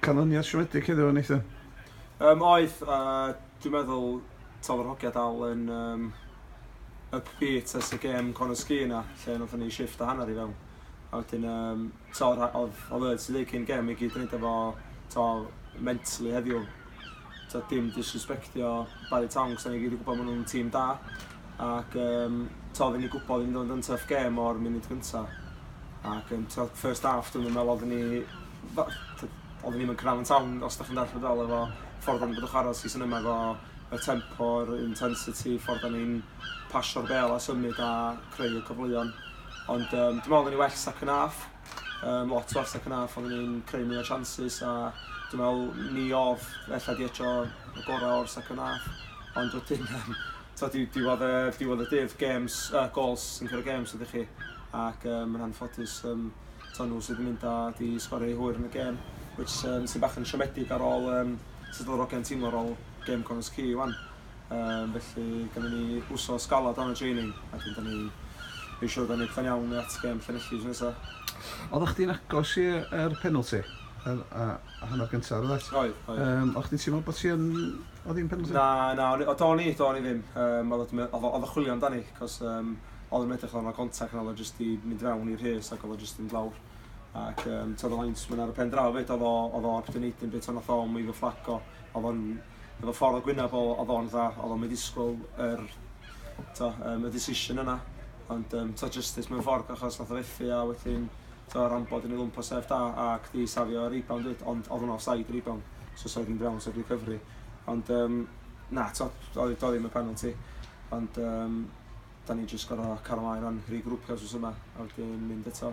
Canlyniad siomedig heddiw o Nathan? Yym oedd, a dwi'n meddwl taw yr hogia dal yn yym upbeat ers y gêm Conor Sgîn na, lle nathon ni shifft a hanner i fewn. A wedyn yym t'o' o'dd o'dd o'dd e ti ddeud cyn gêm i gyd yn neud efo t'o' mentally heddiw. Tibod dim disrespectio Barry Tonks, dan ni gyd yn gwybod maen nhw'n tîm da ac um, tibod oedden ni gwybod i'n dod yn tough game o'r munud gyntaf. Ac um, tibod, first half dwi'n meddwl oedden ni oedden ni'n cyrraedd yn tawn os da chi'n dall fel efo ffordd o'n bod o chwarae season yma efo y tempo, yr intensity, ffordd o'n ni'n pasio'r bel a symud a creu y cyfleon. Ond um, dwi'n meddwl oedden ni well second half. Yym lot o'r second half oedden ni'n creu mwy o chances a dwi'n meddwl ni odd ella di eto y gorau o'r second half ond wedyn um, twa, di, diwedd, y, diwedd y dydd games, uh, goals sy'n cyrra games ydych chi ac um, yn anffodus um, twa, nhw sydd yn mynd a di sgorio i hwyr yn y gêm which um, sy'n bach yn siomedig ar ôl um, sut oedd yr ogiau'n teimlo ar ôl gêm Connors Key wan Um, felly, gynnu ni wsos galad o'n y training, ac yn ni ei siwr da ni pan iawn at gem Llanelli sy'n nesaf. Oeddech chdi'n agos i'r penalty? Yr, a, a hanner gyntaf, roedd et? Oedd, oedd. Um, oedd chdi'n teimlo bod ti'n... Oedd hi'n penalty? Na, na, o do'n i, do'n i ddim. Um, oedd y chwilio amdani, cos um, oedd yn edrych o'n contact yna, oedd o jyst i mynd fewn i'r rhes ac oedd o jyst yn glawr. Ac um, tydd o linesman ar y pen draw fyd, oedd o'n optimiating beth o'n oedd o'n mwy fy fflaco, oedd o'n efo ffordd o gwynab o oedd o'n dda oedd o'n ddisgwyl yr to, um, y decision yna ond um, to justice mewn ffordd achos nath o fethu a wedyn to ran bod yn ei lwmpo sef da ac di safio rebound dweud ond oedd o'n offside rebound so sa ddim brown sef recovery ond um, na to oedd o ddim y penalty ond um, da ni'n just gorau cael ymlaen o'n rhi grwpio os yma a wedyn mynd eto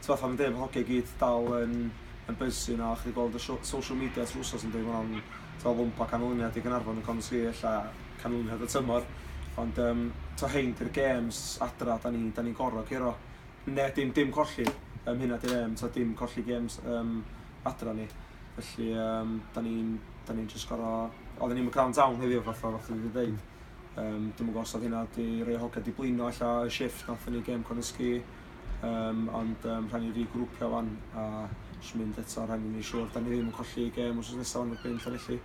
Ti fatha fi'n deud bod hogia i gyd dal yn yn buzzy nawr, chdi gweld y sho- social media trwy wsos yndi ma' o'n t'o' bump o canlyniad i Gaernarfon yn Conor Sgrier ella canlyniad y tymor ond yym t'o' rhein di'r gêms adra 'dan ni 'dan ni'n goro curo. Ne' dim dim colli yym hynna di'r aim t'o' dim colli gêms yym adra ni felly yym 'dan ni'n 'dan ni'n jyst goro odden ni'm yn ground down heddiw fatha oddach chdi 'di deud yym dwi'm yn gwbo' os odd hynna 'di rei o hogia 'di blino ella y shifft nathon ni gêm Conor Sgrier Um, ond um, rhaid ni regrwpio fan a jyst mynd eto, rhaid ni'n ei siwr. Da ni ddim yn colli gêm os oes nesaf fan erbyn Llanelli.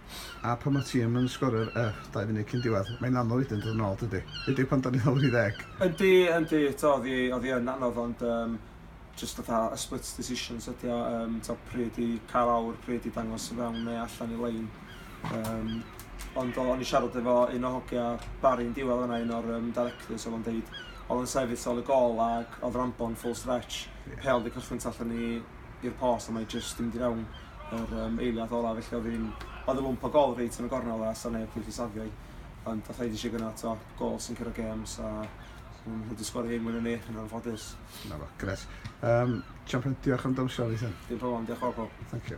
A pan mae tîm yn sgorer y dau funud cyn diwedd, mae'n anodd wedyn dod yn ôl, dydy? Ydy pan da ni lawr i ddeg? Ydy, ydy, to, oedd hi yn anodd, ond um, just fatha a split decisions ydy o, um, to, pryd i cael awr, pryd i dangos yn fewn neu allan i lein. Um, ond o'n i siarad efo un o hogia Barry yn diwedd yna, un o'r um, directors, oedd o'n deud, oedd o'n sefyll ol y gol ac oedd Rambon full stretch, yeah. peol wedi cychwyn tu allan i'r post a mae jyst yn mynd i fewn yr um, eiliad ola, felly oedd hi'n, oedd y lwmp o gol reit yn y gornel a sa'n neb wedi safio i. Ond oedd rhaid i si gyna to, gol sy'n cyrra games a Mae'n wedi sgori hyn mwyn yn eich yn anffodus. Na fo, gres. Um, Champion, diolch am dawnsio, Ethan. Dim problem, diolch o gwbl. Thank you.